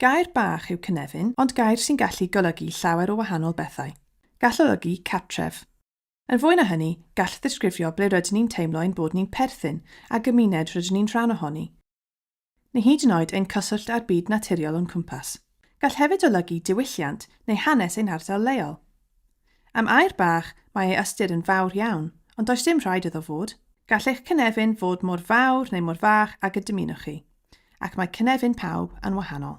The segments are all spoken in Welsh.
Gair bach yw cynefin, ond gair sy'n gallu golygu llawer o wahanol bethau. Gall olygu cartref. Yn fwy na hynny, gall ddisgrifio ble rydyn ni'n teimlo ein bod ni'n perthyn, a gymuned rydyn ni'n rhan ohoni, neu hyd yn oed ein cyswllt â'r byd naturiol o'n cwmpas. Gall hefyd olygu diwylliant neu hanes ein hardal leol. Am air bach, mae ei ystyr yn fawr iawn, ond does dim rhaid iddo fod. Gall eich cynefin fod mor fawr neu mor fach ag y dymunwch chi, ac mae cynefin pawb yn wahanol.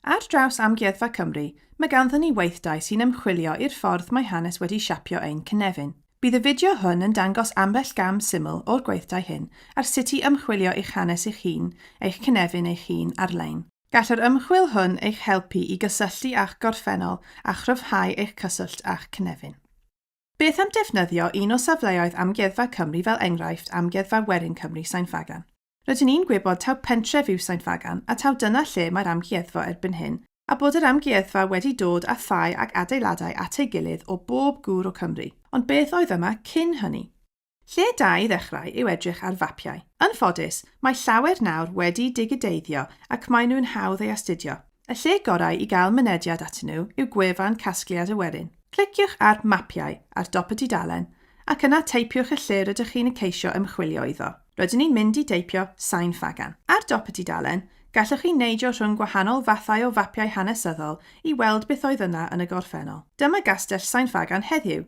Ar draws Amgueddfa Cymru, mae ganddyn ni weithdai sy'n ymchwilio i'r ffordd mae hanes wedi siapio ein cynefin. Bydd y fideo hwn yn dangos ambell gam syml o'r gweithdai hyn ar sut i ymchwilio i'ch hanes eich hun, eich cynefin eich hun, ar-lein. Gall yr ymchwil hwn eich helpu i gysylltu â'ch gorffennol a chryfhau eich cyswllt â'ch cynefin. Beth am defnyddio un o safleoedd Amgueddfa Cymru fel enghraifft Amgueddfa Werin Cymru Sain Ffagan? Rydyn ni'n gwybod taw pentref yw Sain Ffagan a taw dyna lle mae'r amgueddfa erbyn hyn a bod yr amgueddfa wedi dod â thai ac adeiladau at ei gilydd o bob gŵr o Cymru, ond beth oedd yma cyn hynny? Lle da i ddechrau yw edrych ar fapiau. Yn ffodus, mae llawer nawr wedi digideiddio ac maen nhw'n hawdd ei astudio. Y lle gorau i gael mynediad atyn nhw yw gwefan Casgliad y Werin. Cliciwch ar 'Mapiau' ar dop y dudalen ac yna teipiwch y lle rydych chi'n y ceisio ymchwilio iddo. Rydyn ni'n mynd i deipio 'Sain Ffagan'. Ar dop y dudalen, gallwch chi neidio rhwng gwahanol fathau o fapiau hanesyddol i weld beth oedd yna yn y gorffennol. Dyma Gastell Sain Ffagan heddiw.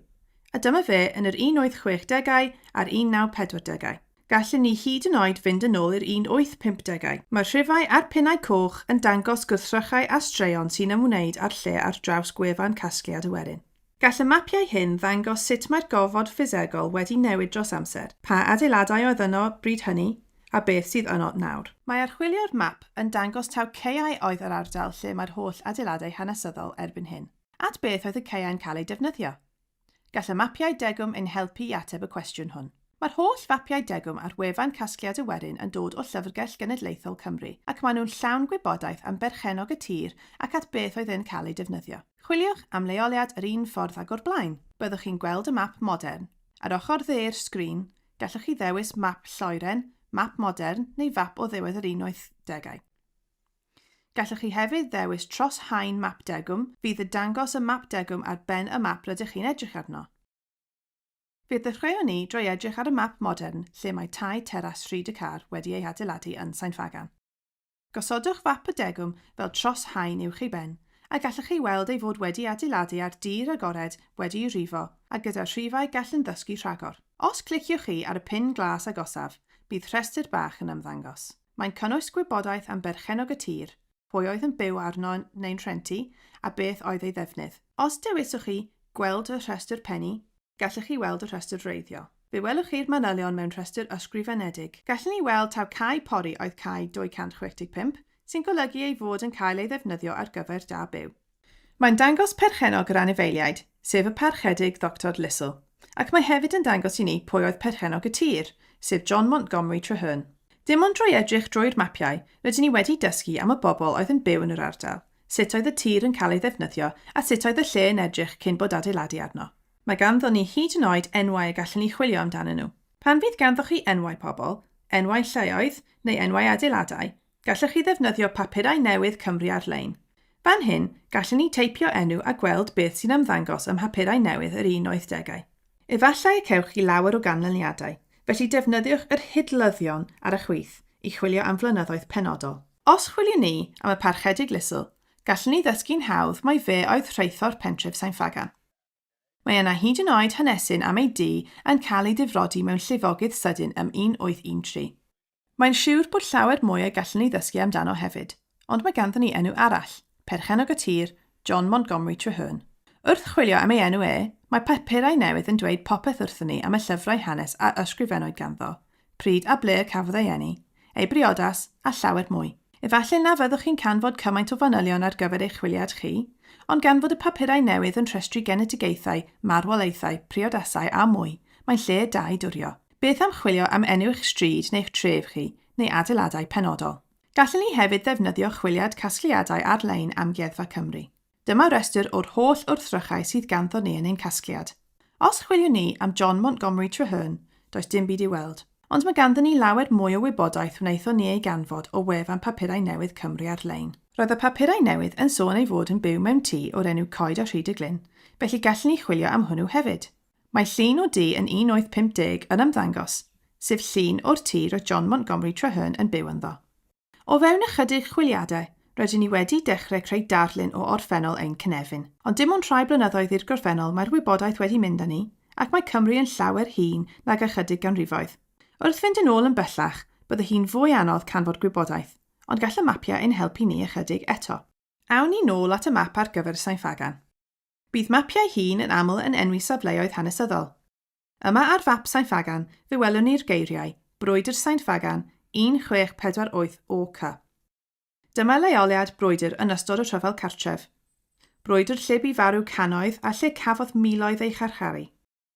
A dyma fe yn yr 1860au a'r 1940au. Gallen ni hyd yn oed fynd yn ôl i'r 1850au. Mae'r rhifau a'r pinnau coch yn dangos gwrthrychau a straeon sy'n ymwneud â'r lle ar draws gwefan Casgliad y Werin. Gall y mapiau hyn ddangos sut mae'r gofod ffisegol wedi newid dros amser, pa adeiladau oedd yno bryd hynny, a beth sydd yno nawr. Mae archwilio'r map yn dangos taw caeau oedd yr ardal lle mae'r holl adeiladau hanesyddol erbyn hyn. At beth oedd y caeau'n cael eu defnyddio? Gall y mapiau degwm ein helpu i ateb y cwestiwn hwn. Mae'r holl fapiau degwm ar wefan Casgliad y Werin yn dod o Llyfrgell Genedlaethol Cymru ac maen nhw'n llawn gwybodaeth am berchennog y tir ac at beth oedd e'n cael ei defnyddio. Chwiliwch am leoliad yr un ffordd ag o'r blaen. Byddwch chi'n gweld y map modern. Ar ochr dde'r sgrin, gallwch chi ddewis map lloeren, map modern neu fap o ddiwedd yr unwaith degau. Gallwch chi hefyd ddewis tros haen map degwm, fydd y dangos y map degwm ar ben y map rydych chi'n edrych arno. Fe ddechreuwn ni drwy edrych ar y map modern lle mae tai teras Rhyd y Car wedi ei hadeiladu yn Sain Ffagan. Gosodwch fap y degwm fel tros haen uwch ei ben, a gallwch chi weld ei fod wedi adeiladu ar dir agored wedi'i rifo a gyda rhifau gall yn ddysgu rhagor. Os cliciwch chi ar y pin glas agosaf, bydd rhestr bach yn ymddangos. Mae'n cynnwys gwybodaeth am berchennog y tir, pwy oedd yn byw arno neu'n rhentu a beth oedd ei ddefnydd. Os dewiswch chi Gweld y rhestr pennu, gallwch chi weld y rhestr wreiddiol. Fe welwch chi'r manylion mewn rhestr ysgrifenedig. Gallwn ni weld taw cae pori oedd cae 265, sy'n golygu ei fod yn cael ei ddefnyddio ar gyfer da byw. Mae'n dangos perchennog yr anifeiliaid, sef y Parchedig Ddoctor Lissell, ac mae hefyd yn dangos i ni pwy oedd perchennog y tir, sef John Montgomery Traherne. Dim ond drwy edrych drwy'r mapiau rydyn ni wedi dysgu am y bobl oedd yn byw yn yr ardal, sut oedd y tir yn cael ei ddefnyddio a sut oedd y lle yn edrych cyn bod adeiladu arno. Mae ganddo ni hyd yn oed enwau y gallwn ni chwilio amdanyn nhw. Pan fydd ganddoch chi enwau pobl, enwau lleoedd neu enwau adeiladau, Gallech chi ddefnyddio papurau newydd Cymru ar-lein. Fan hyn, gallen ni teipio enw a gweld beth sy'n ymddangos ym mhapurau newydd yr un oed degau. Efallai y cewch chi lawer o ganlyniadau, felly defnyddiwch yr hidlyddion ar y chwith i chwilio am flynyddoedd penodol. Os chwiliwn ni am y Parchedig Lisle, gallen ni ddysgu'n hawdd mai fe oedd rheithor pentref Sain Ffagan. Mae yna hyd yn oed hanesyn am ei dŷ yn cael ei difrodi mewn llifogydd sydyn ym 1813. Mae'n siwr bod llawer mwy y gallwn ni ddysgu amdano hefyd, ond mae ganddon ni enw arall, perchennog y tir, John Montgomery Treherne. Wrth chwilio am ei enw e, mae papurau newydd yn dweud popeth wrthon ni am y llyfrau hanes a ysgrifennwyd ganddo, Pryd a ble y cafodd ei eni, ei briodas, a llawer mwy. Efallai na fyddwch chi'n canfod cymaint o fanylion ar gyfer eich chwiliad chi, ond gan fod y papurau newydd yn rhestru genedigaethau, marwolaethau, priodasau a mwy, mae'n lle da i durio. Beth am chwilio am enw eich stryd neu'ch tref chi, neu adeiladau penodol? Gallen ni hefyd ddefnyddio chwiliad casgliadau ar-lein Amgueddfa Cymru. Dyma restr o'r holl wrthrychau sydd ganddo ni yn ein casgliad. Os chwiliwn ni am John Montgomery Traherne, does dim byd i'w weld. Ond mae ganddyn ni lawer mwy o wybodaeth wnaethon ni ei ganfod o wefan Papurau Newydd Cymru ar-lein. Roedd y papurau newydd yn sôn ei fod yn byw mewn tŷ o'r enw Coed a Rhyd y Glyn, felly gallwn ni chwilio am hwnnw hefyd. Mae llun o dŷ yn 1850 yn ymddangos, sef llun o'r tŷ roedd John Montgomery Traherne yn byw ynddo. O fewn ychydig chwiliadau, rydyn ni wedi dechrau creu darlun o orffennol ein cynefin. Ond dim ond rhai blynyddoedd i'r gorffennol mae'r wybodaeth wedi mynd â ni, ac mae Cymru yn llawer hŷn nag ychydig ganrifoedd. Wrth fynd yn ôl yn bellach, bydde hi'n fwy anodd canfod gwybodaeth, ond gall y mapiau ein helpu ni ychydig eto. Awn ni nôl at y map ar gyfer Sain Ffagan. Bydd mapiau hŷn yn aml yn enwi safleoedd hanesyddol. Yma ar fap Sain Ffagan fe welwn ni'r geiriau, Brwydr Sain Ffagan, 1648 OK. Dyma leoliad brwydr yn ystod y rhyfel cartref. Brwydr lle bu farw cannoedd a lle cafodd miloedd eu charcharu.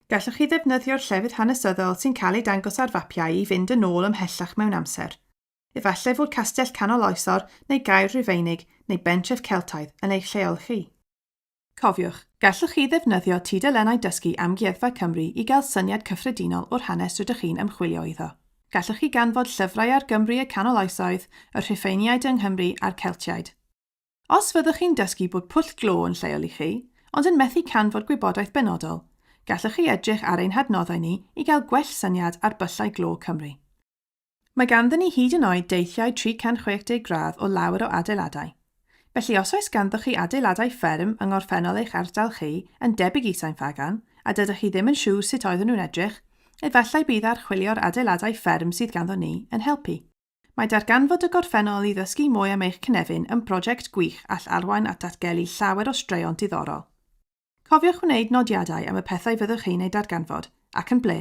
Gallwch chi ddefnyddio'r llefydd hanesyddol sy'n cael eu dangos ar fapiau i fynd yn ôl ymhellach mewn amser. Efallai fod castell canol oesor neu gaer Rufeinig neu bentref Celtaidd yn eich lleol chi. Cofiwch, gallwch chi ddefnyddio tudalennau dysgu Amgueddfa Cymru i gael syniad cyffredinol o'r hanes rydych chi'n ymchwilio iddo. Gallwch chi ganfod llyfrau ar Gymru y Canol Oesoedd, y Rhufeiniaid yng Nghymru a'r Celtiaid. Os fyddwch chi'n dysgu bod pwll glo yn lleol i chi, ond yn methu canfod gwybodaeth benodol, gallwch chi edrych ar ein hadnoddau ni i gael gwell syniad ar byllau glo Cymru. Mae ganddyn ni hyd yn oed deithiau 360 gradd o lawer o adeiladau. Felly os oes ganddoch chi adeiladau fferm yng ngorffennol eich ardal chi, yn debyg i Sain Ffagan, a dydych chi ddim yn siŵr sut oeddwn nhw'n edrych, efallai bydd archwilio'r adeiladau fferm sydd ganddo ni yn helpu. Mae darganfod y gorffennol i ddysgu mwy am eich cynefin yn brosiect gwych all arwain at ddatgelu llawer o straeon diddorol. Cofiwch wneud nodiadau am y pethau fyddwch chi'n eu darganfod, ac yn ble,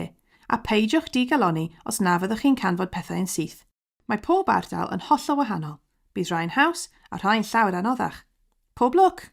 a pheidiwch di-galonni os na fyddwch chi'n canfod pethau yn syth. Mae pob ardal yn hollol wahanol, bydd rhai'n haws a rhai'n llawer anoddach. Pob lwc!